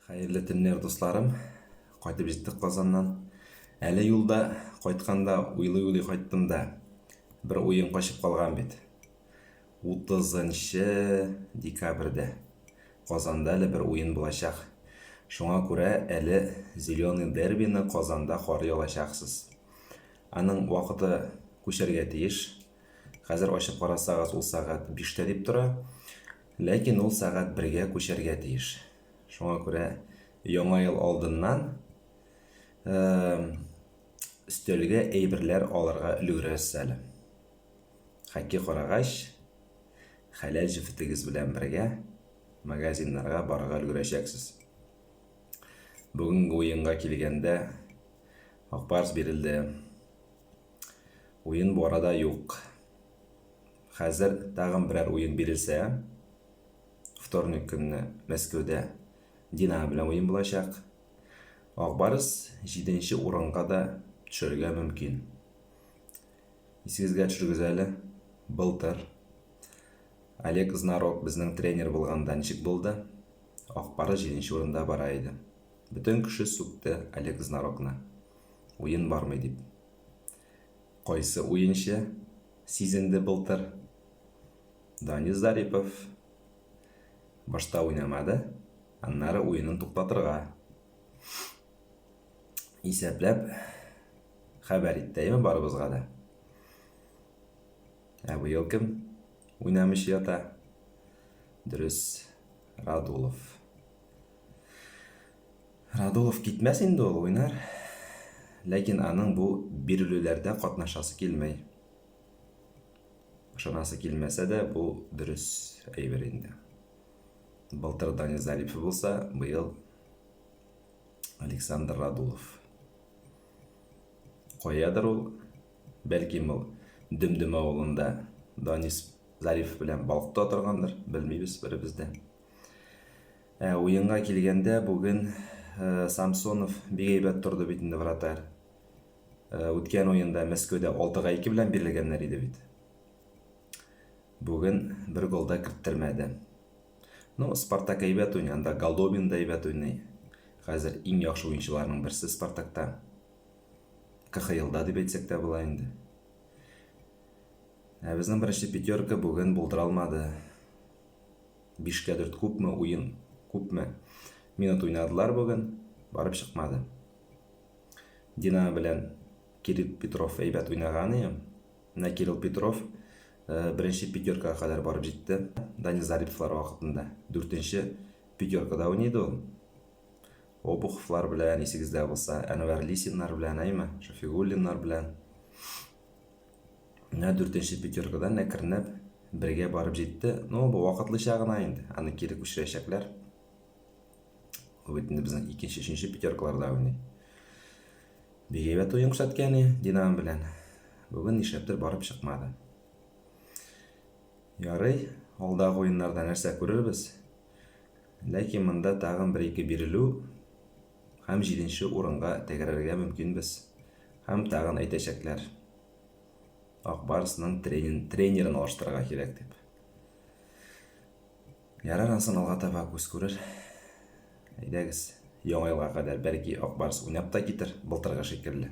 Хәерле төннәр, дусларым. Кайтып җиттек Казаннан. Әле юлда кайтканда уйлый-уйлый кайттым да. Бер уен качып калган бит. 30 декабрьдә Казанда әле бер уен булачак. Шуңа күрә әле Зеленый дербины Казанда карый алачаксыз. Аның вакыты күчәргә тиеш. Хәзер ачып карасагыз, ул сәгать 5 тә дип тора. Ләкин ул сәгать бергә күчәргә тиеш. Шуңа күрә Яңа ел алдыннан өстәлгә әйберләр алырга өлгерәсез әле. Хәкки карагач, хәләл җефетегез белән бергә магазиннарга барырга өлгерәчәксез. Бүгенге уенга килгәндә Акбарс бирелде. Уен бу арада юк. Хәзер тагын берәр уен бирелсә, вторник көнне Мәскәүдә Динамо белән уен булачак. Ак Барс җиденче урынга да төшәргә мөмкин. Исегезгә төшергез әле, былтыр Олег Знарок безнең тренер булганда ничек булды? Ак Барс җиденче урында бара иде. Бөтен кеше сүкте Олег Знарокны. Уен бармый дип. Кайсы уенчы сизенде былтыр? Данис Зарипов. Башта уйнамады, аннары уенын туктатырга. Исәпләп хәбәр иттәйме барыбызга да. Ә быел кем уйнамыйча ята? Дөрес, Радулов. Радулов китмәс инде ул, уйнар. Ләкин аның бу бирелүләрдә катнашасы килми. Ышанасы килмәсә дә, бу дөрес әйбер инде. Былтыр Данил Зарипов булса, быел Александр Радулов. Каядыр ул, бәлки ул Дөмдөм авылында Данис Зариф белән балыкта торгандыр, белмибез беребез дә. Ә уенга килгәндә, бүген Самсонов бик әйбәт торды бит инде вратарь. Үткән уенда Мәскәүдә 6-га 2 белән бирелгәннәр иде бит. Бүген бер гол да керттермәде. Ну, Спартак әйбәт уйный, анда Голдобин да әйбәт уйный. Хәзер иң яхшы уенчыларның берсе Спартакта. КХЛда дип әйтсәк тә була инде. Ә безнең беренче пятерка бүген булдыра алмады. Бишкә дүрт күпме уен, күпме минут уйнадылар бүген, барып чыкмады. Динамо белән Кирилл Петров әйбәт уйнаган ием. Менә Кирилл Петров беренче пятеркага кадәр барып җитте. Данил Зариповлар вакытында дүртенче пятеркада уйный иде ул. Обуховлар белән, исегездә булса, Әнвәр Лисиннар белән, әйме, Шафигуллиннар белән. Менә дүртенче пятеркадан әкренләп бергә барып җитте. Ну, бу вакытлыча гына инде. Аны кире күчерәчәкләр. Ул бит инде безнең икенче, өченче пятеркаларда уйный. Бик әйбәт уен күрсәткән Динамо белән. Бүген нишләптер барып чыкмады. Ярый, алдагы уеннарда нәрсә күрербез. Ләкин монда тагын бер-ике бирелү Һәм җиденче урынга тәгәрәргә мөмкинбез. Һәм тагын әйтәчәкләр, Ак Барсның тренин, тренерын алыштырырга кирәк дип. Ярар, ансын алга таба күз күрер. Әйдәгез, Яңа елга кадәр, бәлки, Ак Барс уйнап та китер, былтыргы шикелле.